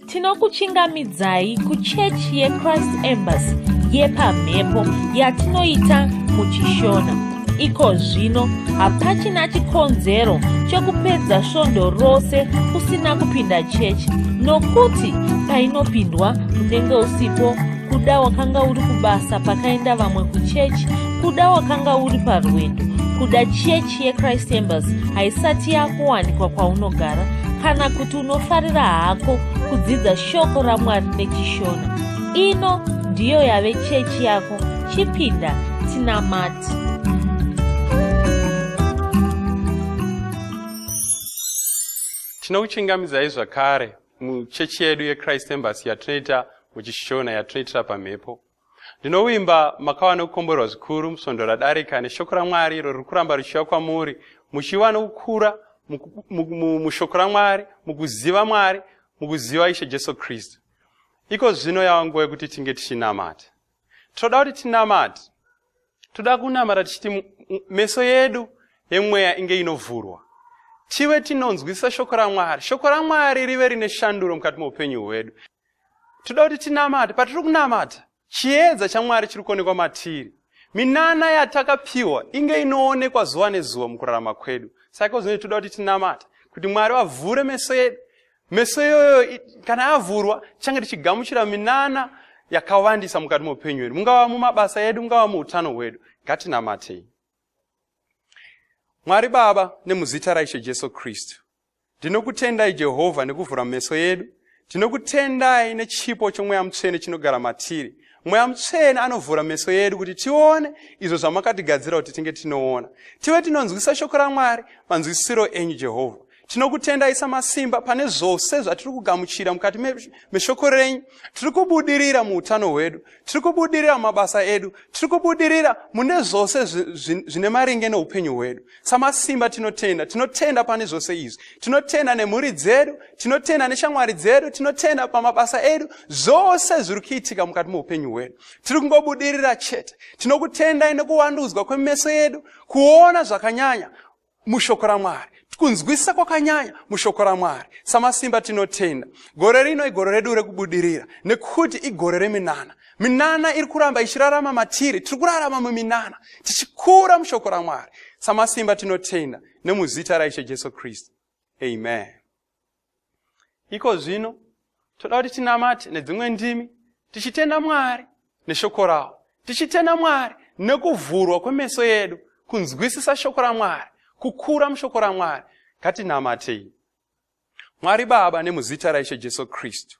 tinokuchingamidzai kuchechi yechrist embassy yepamhepo yatinoita muchishona iko zvino hapachina chikonzero chokupedza svondo rose usina kupinda chechi nokuti painopindwa unenge usipo kuda wakanga uri kubasa pakaenda vamwe kuchechi kuda wakanga uri parwendo kuda chechi yechrist embassy haisati yakuwanikwa kwaunogara kana kuti unofarira hako kudzidza shoko ramwari nechishona ino ndiyo yave chechi yako chipinda tinamati tinokuchingamidzai zvakare muchechi yedu yechrist embasy yatinoita muchishona yatinoitira pamhepo Ndinovimba makava nokukomborwa zvikuru musvondo radarika neshoko raMwari iro riri kuramba richiuya kwamuri, muchiva nokukura mushoko raMwari, mukuziva Mwari, mukuziva Ishe Jesu Kristu. Iko zvino yava nguva yekuti tinge tichinamata. Tinoda kuti tinamate. Toda kunamata tichiti meso yedu yemweya inge inovhurwa. Tive tinonzwisisa shoko raMwari. Shoko raMwari rive rine shanduro mukati meupenyu hwedu. toda kuti tinamate patiri kunamata chiedza chamwari chiri kuonekwa matiri minana yatakapiwa inge inoonekwa zuva nezuva mukurarama kwedu saka zvinoi toda kuti tinamata kuti mwari vavhure meso yedu meso iyoyo kana avhurwa tichange tichigamuchira minana yakawandisa mukati meupenyu hwedu mungava mumabasa edu mungava muutano hwedu ngatinamatei mwari baba nemuzita raishe jesu kristu Ndinokutendai Jehovha nekuvhura meso yedu. Tinokutendai nechipo chomweya mutsvene chinogara matiri. Mweya mutsvene anovhura meso yedu kuti tione izvo zvamakatigadzira kuti tinge tinoona. Tive tinonzwisa shoko raMwari manzwisisiro enyu Jehovha. Tinokutendai samasimba pane zvose zvatiri kugamuchira mukati meshoko renyu. Tiri kubudirira muutano hwedu. tiri kubudirira mumabasa edu tiri kubudirira mune zvose zvine maringe neupenyu hwedu samasimba tinotenda tinotenda pane zvose izvi tinotenda nemhuri dzedu tinotenda neshamwari dzedu tinotenda pamabasa edu zvose zviri kuitika mukati meupenyu hwedu tiri kungobudirira chete tinokutendai nekuwandudzwa kwemeso yedu kuona zvakanyanya mushoko ramwari kunzwisisa kwakanyanya mushoko ramwari samasimba tinotenda gore rino igore redu rekubudirira nekuti igore reminana minana iri kuramba ichirarama matiri tiri kurarama muminana tichikura mushoko ramwari samasimba tinotenda nemuzita raishe jesu kristu amen iko zvino toda kuti tinamate nedzimwe ndimi tichitenda mwari neshoko rawo tichitenda mwari nekuvhurwa kwemeso yedu kunzwisisa shoko ramwari kukura mushoko ramwari ngatinamatei mwari baba nemuzita raishe jesu kristu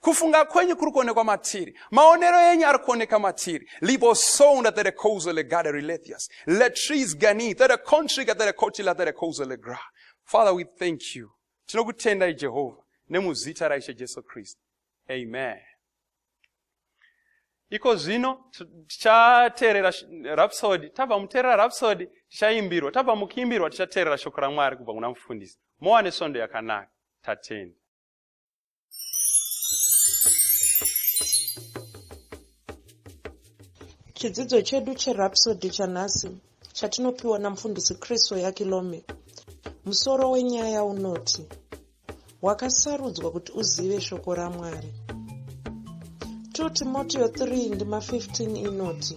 Kufunga kwenyu kuri kuonekwa matiri. Maonero enyu ari kuoneka matiri. Libo sounda tere kouzo le gada rilethias. Le trees gani tere kontrika tere kotila tere kouzo le gra. Father, we thank you. Tinokutendai Jehovha nemuzita raIshe Jesu Kristu. Amen. Iko zvino tichateerera Rhapsody. Tabva muteerera Rhapsody, tichaimbirwa. Tabva mukuimbirwa, tichateerera shoko raMwari kubva kuna mufundisi. Mowa nesvondo yakanaka. Tatenda. chidzidzo chedu cherapsody chanhasi chatinopiwa namufundisi kristu yakilome musoro wenyaya unoti wakasarudzwa kuti uzive shoko ramwari 2 timoteo 3 ndima 15 inoti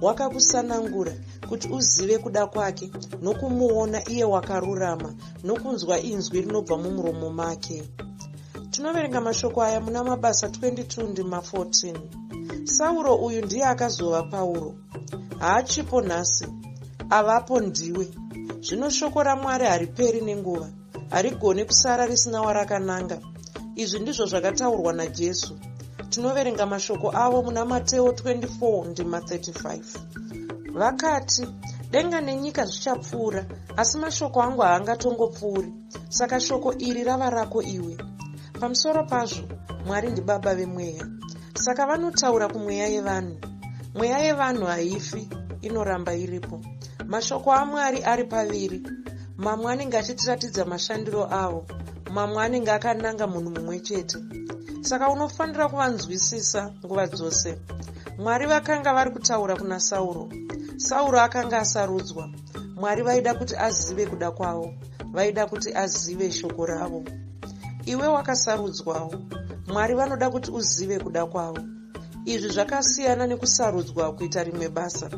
wakakusanangura kuti uzive kuda kwake nokumuona iye wakarurama nokunzwa inzwi rinobva mumuromo make tinoverenga mashoko aya muna mabasa 22 ndima 14 sauro uyu ndiye akazova pauro haachipo nhasi avapo ndiwe zvino shoko ramwari hariperi nenguva harigone kusara risina warakananga izvi ndizvo zvakataurwa najesu tinoverenga mashoko avo muna mateo 24 ndima 35 vakati denga nenyika zvichapfuura asi mashoko angu haangatongopfuuri saka shoko iri rava rako iwe pamusoro pazvo mwari ndibaba vemweya saka vanotaura kumweya yevanhu mweya yevanhu haifi inoramba iripo mashoko amwari ari paviri mamwe anenge achitiratidza mashandiro avo mamwe anenge akananga munhu mumwe chete saka unofanira kuvanzwisisa nguva dzose mwari vakanga vari kutaura kuna sauro sauro akanga asarudzwa mwari vaida kuti azive kuda kwavo vaida kuti azive shoko ravo iwe wakasarudzwawo mwari vanoda kuti uzive kuda kwavo Izvi zvakasiyana nekusarudzwa kuita rimwe basa.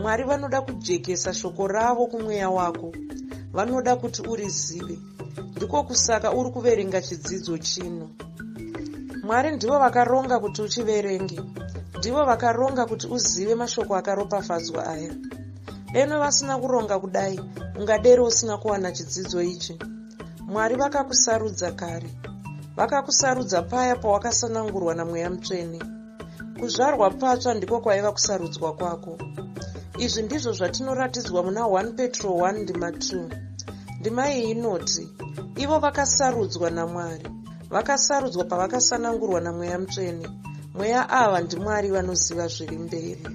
Mwari vanoda kujekesa shoko ravo kumweya wako. Vanoda kuti urizive. Ndiko kusaka uri kuverenga chidzidzo chino. Mwari ndivo vakaronga kuti uchiverenge. Ndivo vakaronga kuti uzive mashoko akaropafadzwa aya. Deno vasina kuronga kudai, ungadero usina kuwana chidzidzo ichi. mwari vakakusarudza kare vakakusarudza paya pawakasanangurwa namweya mutsvene kuzvarwa patsva ndiko kwaiva kusarudzwa kwako izvi ndizvo zvatinoratidzwa muna 1 petro 1 ndima 2 ndima iyi inoti ivo vakasarudzwa namwari vakasarudzwa pavakasanangurwa namweya mutsvene mweya ava ndimwari vanoziva zviri mberi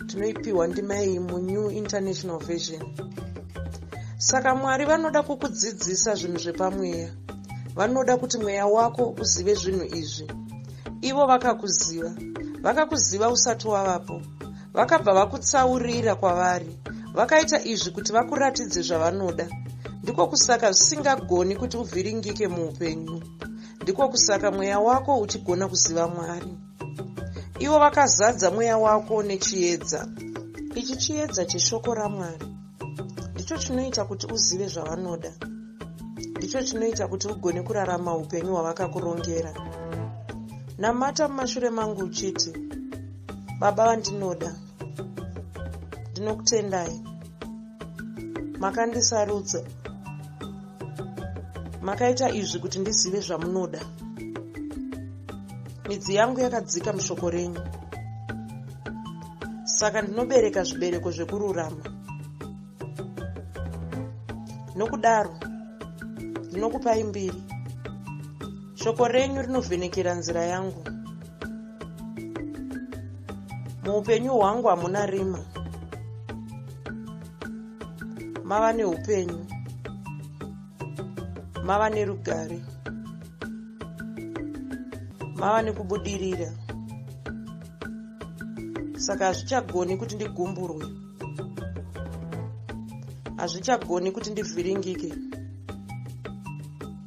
tinoipiwa ndima iyi munew international version saka mwari vanoda kukudzidzisa zvinhu zvepamweya vanoda kuti mweya wako uzive zvinhu izvi ivo vakakuziva vakakuziva usati wavapo vakabva vakutsaurira kwavari vakaita izvi kuti vakuratidze zvavanoda ndiko kusaka zvisingagoni kuti uvhiringike muupenyu ndiko kusaka mweya wako uchigona kuziva mwari ivo vakazadza mweya wako nechiedza ichi chiedza cheshoko ramwari ndicho chinoita kuti uzive zvavanoda ndicho chinoita kuti ugone kurarama upenyu hwavakakurongera namata mumashure mangu uchiti baba vandinoda ndinokutendai makandisarudza makaita izvi kuti ndizive zvamunoda midzi yangu yakadzika mushoko renyu saka ndinobereka zvibereko zvekururama nokudaro ndinokupai mbiri shoko renyu rinovhenekera nzira yangu muupenyu hwangu hamuna rima mava neupenyu mava nerugare mava nekubudirira saka hazvichagoni kuti ndigumburwe hazvichagoni kuti ndivhiringike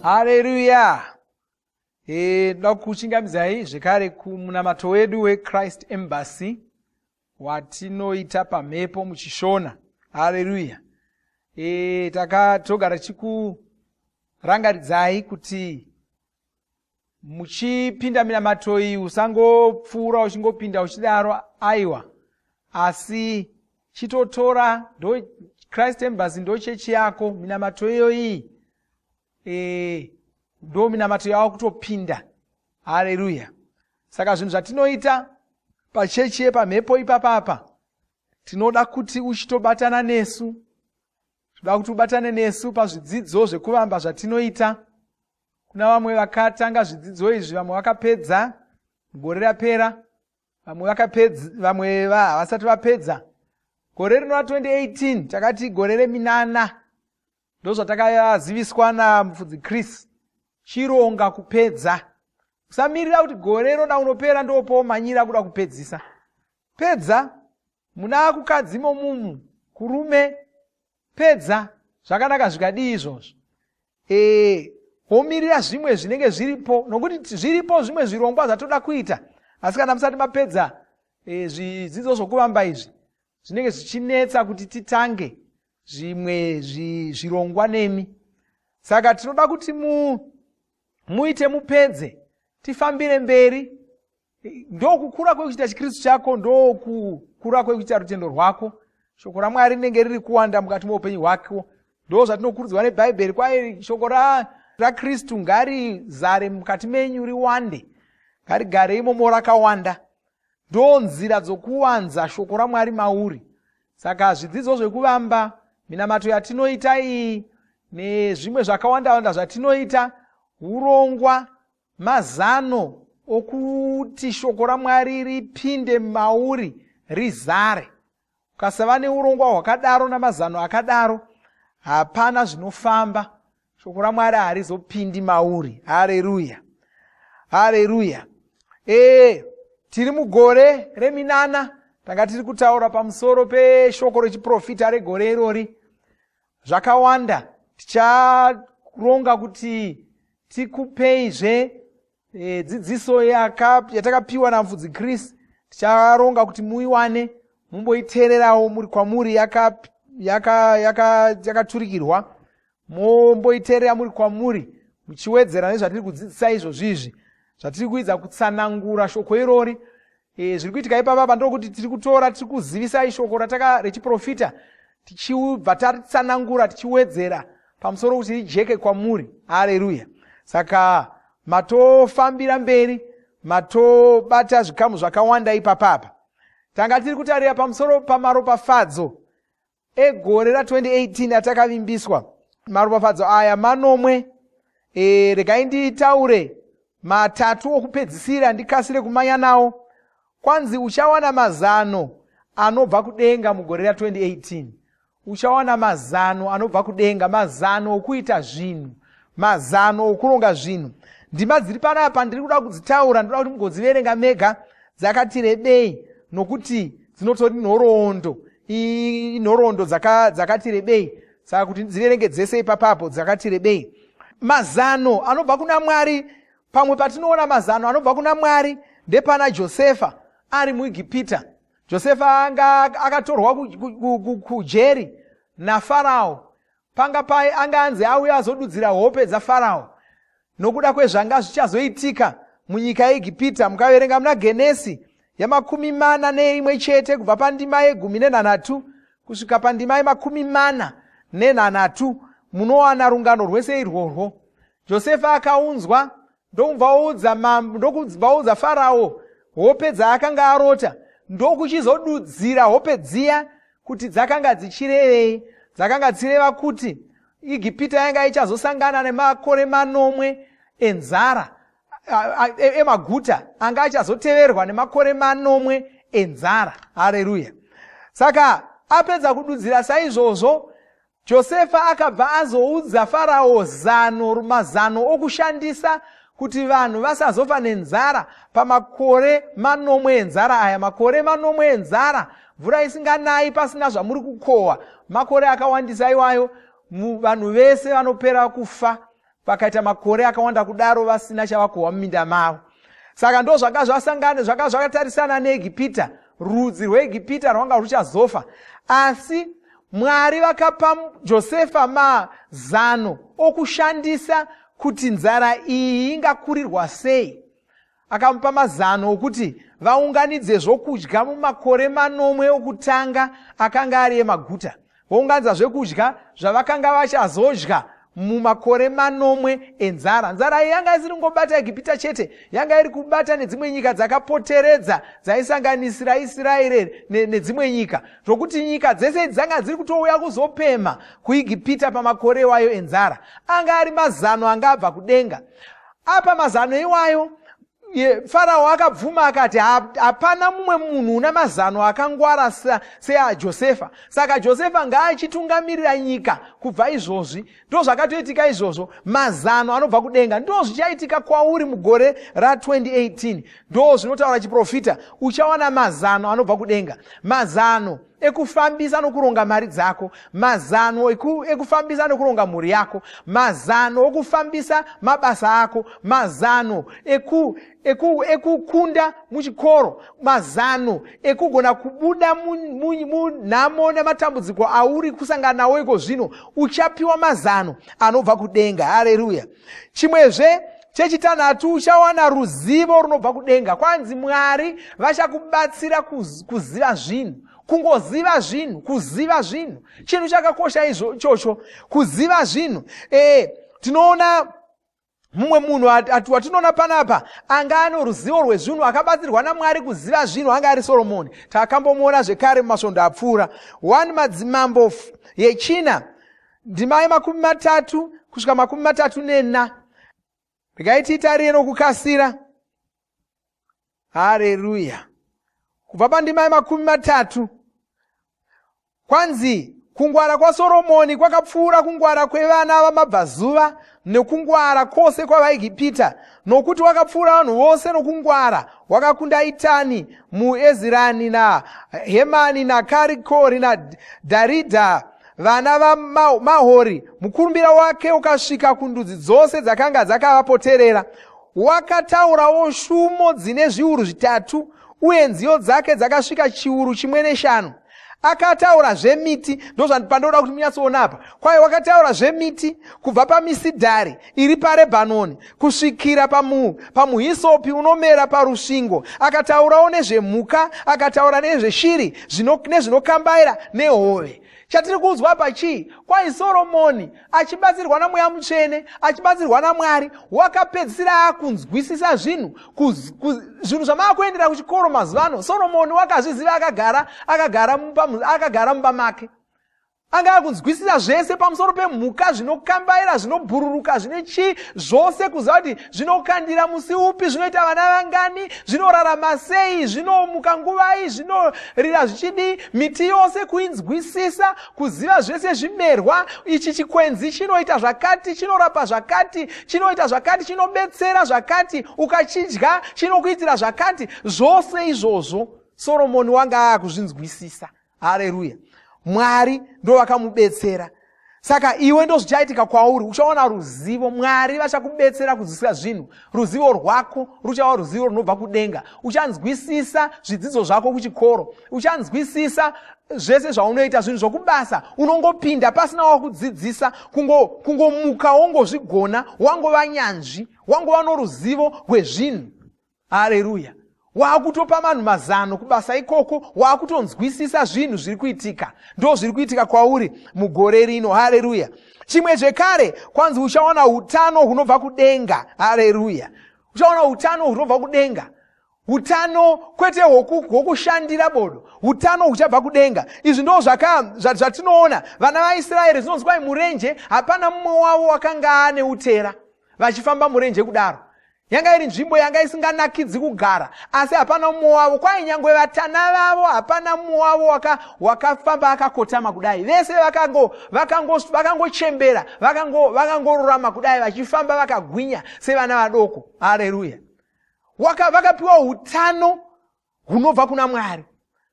haleluya e, ndoda kuchingamidzai zvekare kumunamato wedu wechrist embassy watinoita pamhepo muchishona haleluya e, takatogara chikurangaridzai kuti muchipinda minamato iyi usangopfuura uchingopinda uchidaro aiwa asi chitotora ndo christ embassy ndo chechi yako minamato iyo iyi e, ndo minamato yava kutopinda hareruya saka zvinhu zvatinoita pachechi yepamhepo ipapapa tinoda kuti uchitobatana nesu tinoda kuti ubatane nesu pazvidzidzo zvekuvamba zvatinoita kuna vamwe vakatanga zvidzidzo izvi vamwe vakapedza gore rapera vamwe vakapedza vamwe havasati vapedza gore rino ra 2018 takati gore reminana ndozvatakaziviswa namufudzi chris chironga kupedza usamirira kuti gore roda unopera ndopomanyira kuda kupedzisa pedza muna kukadzi momumu kurume Pedza, zvakanaka zvikadii izvozvo? Ee, womirira zvimwe zvinenge zviripo, nokuti zviripo zvimwe zvirongwa zvatoda kuita, asi kana musati mapedza e, zvidzidzo zvokuvamba izvi zvinenge zvichinetsa kuti titange zvimwe zvirongwa nemi saka tinoda kuti mu muite mupedze tifambire mberi ndokukura kwekuchiita chikristu chako ndokukura kwekuchiita rutendo rwako shoko ramwari rinenge riri kuwanda mukati meupenyu hwako ndo zvatinokurudzirwa nebhaibheri kwaye shoko rakristu ngarizare mukati menyu riwande ngarigare imomo rakawanda ndo nzira dzokuwanza shoko ramwari mauri saka zvidzidzo zvekuvamba minamato yatinoita iyi nezvimwe zvakawandawanda zvatinoita urongwa Mazano okuti shoko raMwari ripinde mauri rizare. Ukasava neurongwa hwakadaro namazano akadaro, hapana zvinofamba. Shoko raMwari harizopindi mauri. Hareruya, hareruya. Ee, tiri mugore reminana, tanga tiri kutaura pamusoro peshoko rechiprofita regore irori. zvakawanda ticharonga kuti tikupeizve e, dzidziso yatakapiwa namfudzi chris ticharonga kuti muiwane mumboitererawo muri kwamuri yakaturikirwa yaka, yaka, yaka momboiterera muri kwamuri muchiwedzera nezvatiri kudzidzisa izvozvizvi zvatiri kuidza kutsanangura shoko irori E, zviri kuitika ipapa pandokuti tiri kutora tiri kuzivisai shoko rataka rechiprofita tichibva tatsanangura tichiwedzera pamusoro kuti rijeke kwamuri hareruya saka matofambira mberi matobata zvikamu zvakawanda ipapapa tanga tiri kutarira pamusoro pamaropafadzo egore ra 2018 atakavimbiswa maropafadzo aya manomwe e, regai nditaure matatu okupedzisira ndikasire kumanya nawo kwanzi uchawana mazano anobva kudenga mugore ra 2018 uchawana mazano anobva kudenga mazano okuita zvinhu mazano okuronga zvinhu ndima dziri panapa ndiri kuda kudzitaura ndoda kuti mugodziverenga mega dzakati rebei nokuti dzinotori nhoroondo inhoroondo dzakati dzaka rebei saka kuti dziverenge dzese ipapapo dzakati rebei mazano anobva kuna mwari pamwe patinoona mazano anobva kuna mwari ndepana josefa ari muegipita josefa anga akatorwa kujeri nafarao panga paye anga anzi auye azodudzira hope dzafarao nokuda kwezvanga zvichazoitika munyika yeegipita mukaverenga muna genesi yamakumi mana neimwe chete kubva pandima yegumi nenhanhatu kusvika pandima yemakumi mana nenhanhatu munowana rungano rwese irworwo josefa akaunzwa ndokubvaudza mambo ndokubvaudza farawo hope dzaakanga arota ndokuchizodudzira hope dziya kuti dzakanga dzichirevei dzakanga dzichireva kuti igipita yanga ichazosangana nemakore manomwe enzara e, emaguta anga achazoteverwa nemakore manomwe enzara hareruya saka apedza kududzira saizvozvo Josefa akabva azoudza Farao zano, mazano okushandisa kuti vanhu vasazofa nenzara pamakore manomwe enzara aya. Makore manomwe enzara, mvura isinganayi pasina zvamuri kukohwa, makore akawandisa iwayo, vanhu vese vanopera kufa vakaita makore akawanda kudaro vasina chavakohwa muminda mavo saka ndo zvanga zvasangane zvanga zvakatarisana neegipita rudzi rweegipita rwanga rwuchazofa asi mwari vakapa josefa mazano okushandisa kuti nzara iyi ingakurirwa sei akamupa mazano okuti vaunganidze zvokudya mumakore manomwe okutanga akanga ari emaguta vounganidza zvekudya zvavakanga vachazodya mumakore manomwe enzara nzara iyi yanga isiri kungobata egipita chete yanga iri kubata nedzimwe nyika dzakapoteredza dzaisanganisira isiraeri nedzimwe nyika zvokuti nyika dzese idzi dzanga dziri kutouya kuzopemha kuegipita pamakore iwayo enzara anga ari mazano anga abva kudenga apa mazano iwayo farao akabvuma akati hapana mumwe munhu una mazano akangwara seajosefa saka josefa ngaachitungamirira nyika kubva izvozvi ndo zvakatoitika izvozvo mazano anobva kudenga ndo zvichaitika kwauri mugore ra2018 ndo zvinotaura chiprofita uchawana mazano anobva kudenga mazano ekufambisa nokuronga mari dzako mazano ekufambisa nokuronga mhuri yako mazano okufambisa mabasa ako mazano ekukunda eku, eku muchikoro mazano ekugona kubuda munhamo nematambudziko auri kusangana nawo iko zvino uchapiwa mazano anobva kudenga hareruya chimwezve chechitanhatu uchawana ruzivo runobva kudenga kwanzi mwari vachakubatsira kuziva zvinhu kungoziva zvinhu kuziva zvinhu chinhu chakakosha ichocho kuziva zvinhu e, tinoona mumwe munhu watinoona panapa anga ano ruzivo rwezvinhu akabatsirwa namwari kuziva zvinhu anga ari soromoni takambomuona zvekare mumasvondo apfuura 1 madzimambo yechina ndima yemakumi matatu kusvika makumi matatu nena regai tiitarire nokukasira hareruya kubva pandima yemakumi matatu kwanzi kungwara kwasoromoni kwakapfuura kungwara kwevana vamabvazuva nekungwara kwose kwavaigipita nokuti wakapfuura vanhu vose nokungwara wakakunda itani muezirani nahemani nakarikori nadharidha vana vamahori mukurumbira wake ukasvika kundudzi dzose dzakanga dzakavapoterera wakataurawo shumo dzine zviuru zvitatu uye nziyo dzake dzakasvika chiuru chimwe neshanu akataura zvemiti ndozvandipandooda kuti munyatsoona apa kwaye wakataura zvemiti kubva pamisidhari iri parebhanoni kusvikira pamu, pamuhisopi unomera parusvingo akataurawo nezvemhuka akataura nezveshiri nezvinokambaira nehove chatiri kuudzwa apa chii kwai soromoni achibatsirwa namweya mutsvene achibatsirwa namwari wakapedzisira akunzwisisa zvinhu zvinhu zvamaakuendera kuchikoro mazuva ano soromoni wakazviziva akagara akagara akagara mumba make anga akunzwisisa zvese pamusoro pemhuka zvinokambaira zvinobhururuka zvine chii zvose kuziva kuti zvinokandira musi upi zvinoita vana vangani zvinorarama sei zvinomuka nguvai zvinorira zvichidii miti yose kuinzwisisa kuziva zvese zvimerwa ichi chikwenzi chinoita zvakati chinorapa zvakati chinoita zvakati chinobetsera zvakati ukachidya chinokuitira zvakati zvose izvozvo soromoni wanga aakuzvinzwisisa hareruya mwari ndovakamubetsera saka iwe ndozvichaitika kwauri uchaona ruzivo mwari vachakubetsera kuzwisira zvinhu ruzivo rwako ruchava ruzivo runobva kudenga uchanzwisisa zvidzidzo zvako kuchikoro uchanzwisisa zvese zvaunoita zvinhu zvokubasa unongopinda pasina wakudzidzisa kungomuka kungo wongozvigona wangova nyanzvi wangova noruzivo rwezvinhu hareruya waakutopa vanhu mazano kubasa ikoko waakutonzwisisa zvinhu zviri kuitika ndo zviri kuitika kwauri mugore rino hareruya chimwe zvekare kwanzi uchaona utano hunobva kudenga hareruya uchaona utano hunobva kudenga utano kwete hwokushandira bodo utano huchabva kudenga izvi ndo zvatinoona vana vaisraeri zvinonzi kwai murenje hapana mumwe wavo wakanga ane utera vachifamba murenje kudaro yanga iri nzvimbo yanga isinganakidzi kugara asi hapana umwe wavo kwai nyangwe vatana vavo hapana mumwe wavo wakafamba waka akakotama kudai vese vakangochembera vakangorurama kudai vachifamba vakagwinya sevana vadoko hareruya vakapiwa utano hunobva kuna mwari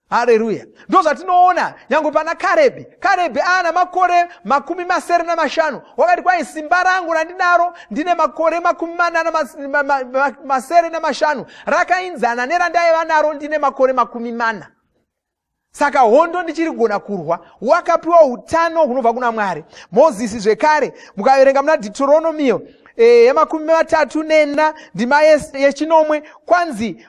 hareruya ndo zvatinoona nyange pana karebhi karebhi aana makore makumi masere namashanu wakati kwai simba rangu randinaro ndine makore makumi manana masere namashanu rakainzana nerandaiva naro ndine makore makumi mana saka hondo ndichiri kugona kurwa wakapiwa utano hunobva kuna mwari mozisi zvekare mukaverenga muna deuteronomio eh, yemakumi matatu nena ndima yechinomwe kwanzi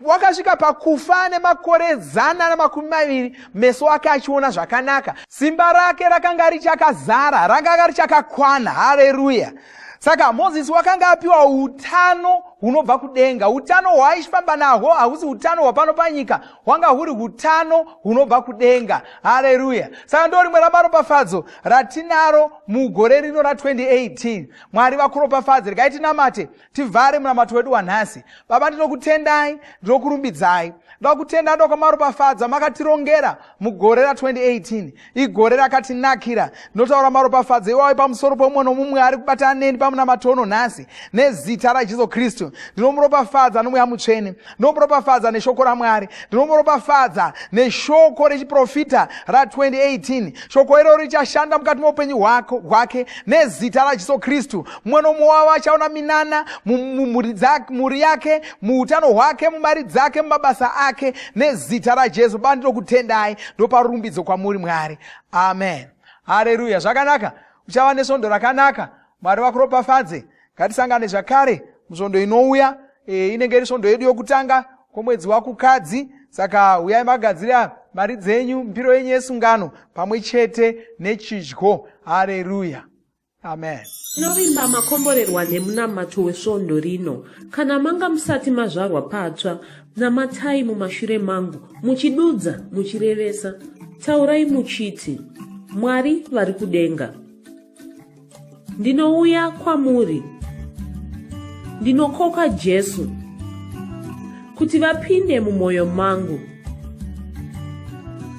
wakasvika wa pakufa nemakore zana namakumi maviri meso ake achiona zvakanaka simba rake rakanga richakazara rakanga richakakwana hareruya saka mozisi wakanga apiwa utano hunobva kudenga utano hwaaifamba nahwo hausi utano hwapano panyika hwanga huri utano hunobva kudenga hareruya saka ndo rimwe ramaropafadzo ratinaro mugore rino ra2018 mwari vakuropafadze regai tinamate tivhare munamato wedu wanhasi baba ndinokutendai ndinokurumbidzai ndakutenda ndokwamaropafadzo amakatirongera mugore ra2018 igore rakatinakira ndinotaura maropafadzo iwayo pamusoro pomumwe nomumwe ari kubata aneni pamunamato uno nhasi nezita rajesu kristu ndinomuropafadza nomweya mutsvene ndinomuropafadza neshoko ramwari ndinomuropafadza neshoko rechiprofita ra2018 shoko iroro richashanda mukati meupenyu hwake nezita rajesu kristu mumwe nomumwe wavo achaona minana mumhuri yake muutano hwake mumari dzake mumabasa ake nezita rajesu baba ndinokutendai ndopa rumbidzo kwamuri mwari amen hareruya zvakanaka uchava nesvondo rakanaka mwari vakuropafadze ngatisangane zvakare musvondo inouya e, inenge iri svondo yedu yokutanga kwomwedzi wakukadzi saka uyai magadzira mari dzenyu mbiro yenyu yesungano pamwe chete nechidyo hareruya Amen. Tinovimba makomborerwa nemunamato wesvondo rino. Kana manga musati mazvarwa patsva, namatai mumashure mangu, muchidudza, muchirevesa. Taurai muchiti, Mwari vari kudenga. Ndinouya kwamuri. Ndinokoka Jesu kuti vapinde mumwoyo mangu.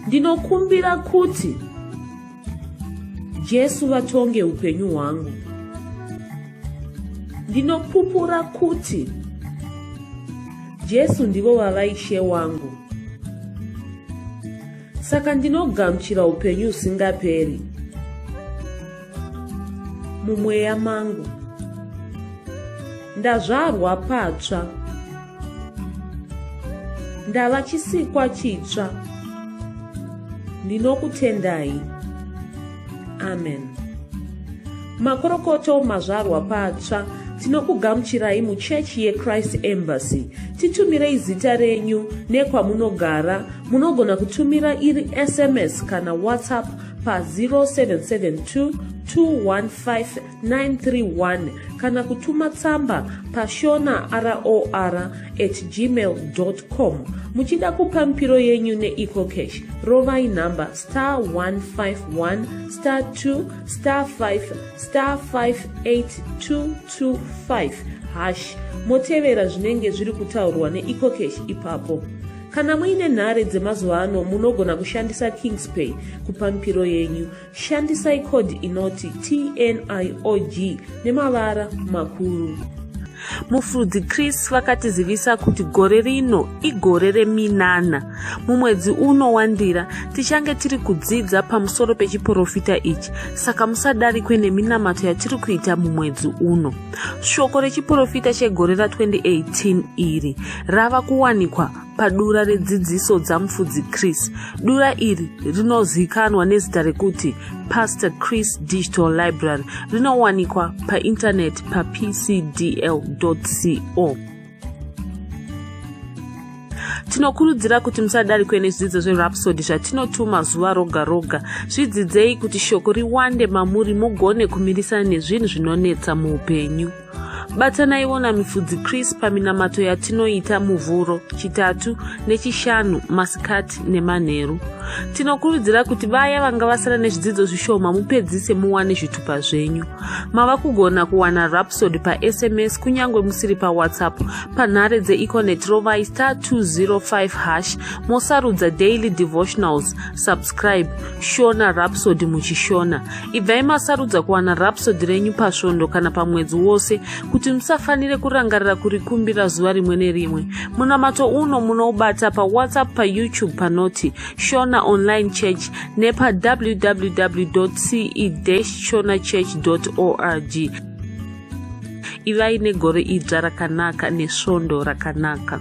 Ndinokumbira kuti Jesu vatonge upenyu hwangu. Ndinopupura kuti Jesu ndivo vava ishe wangu. Saka ndinogamuchira upenyu usingaperi mumweya mangu. Ndazvarwa patsva. ndava chisikwa chitsva ndinokutendai amen makorokoto mazvarwa patsva tinokugamuchirai muchechi yechrist embassy titumirei zita renyu nekwamunogara munogona kutumira iri sms kana whatsapp pa 0772 215 931 kana kutuma tsamba pashona ror at gmail com muchida kupa mipiro yenyu neecocash rovai nhamba star 151 star 2 star 5 star 58225 hash motevera zvinenge zviri kutaurwa neecocash ipapo kana muine nhare dzemazuva ano munogona kushandisa kingspay kupa mipiro yenyu Shandisai code inoti TNIOG nemavara makuru. Mufudzi Chris vakatizivisa kuti gore rino igore reminana. Mumwedzi uno wandira tichange tiri kudzidza pamusoro pechiporofita ichi, saka musadarikwe neminamato yatiri kuita mumwedzi uno. Shoko rechiporofita chegore ra 2018 iri rava kuwanikwa padura redzidziso dzamufudzi chris dura iri rinozivikanwa nezita rekuti pastor chris digital library rinowanikwa paintaneti papcdl co tinokurudzira kuti musadarikwe nezvidzidzo zverapsody zvatinotuma zuva roga roga zvidzidzei kuti shoko riwande mamuri mugone kumirisana nezvinhu zvinonetsa muupenyu batanaiwo namifudzi chris paminamato yatinoita muvhuro chitatu nechishanu masikati nemanheru tinokurudzira kuti vaya vanga vasara nezvidzidzo zvishoma mupedzise muwane zvitupa zvenyu mava kugona kuwana rapsod pasms kunyange musiri pawhatsapp panhare dzeeconet rovai star 205 hash mosarudza daily devotionals subscribe shona rapsod muchishona ibvai masarudza kuwana rapsodi renyu pasvondo kana pamwedzi wose kuti musafanire kurangarira kurikumbira zuva rimwe nerimwe munamato uno munoubata pawhatsapp payoutube panoti shona online church nepawww ce shona church org ivai negore idzva rakanaka nesvondo rakanaka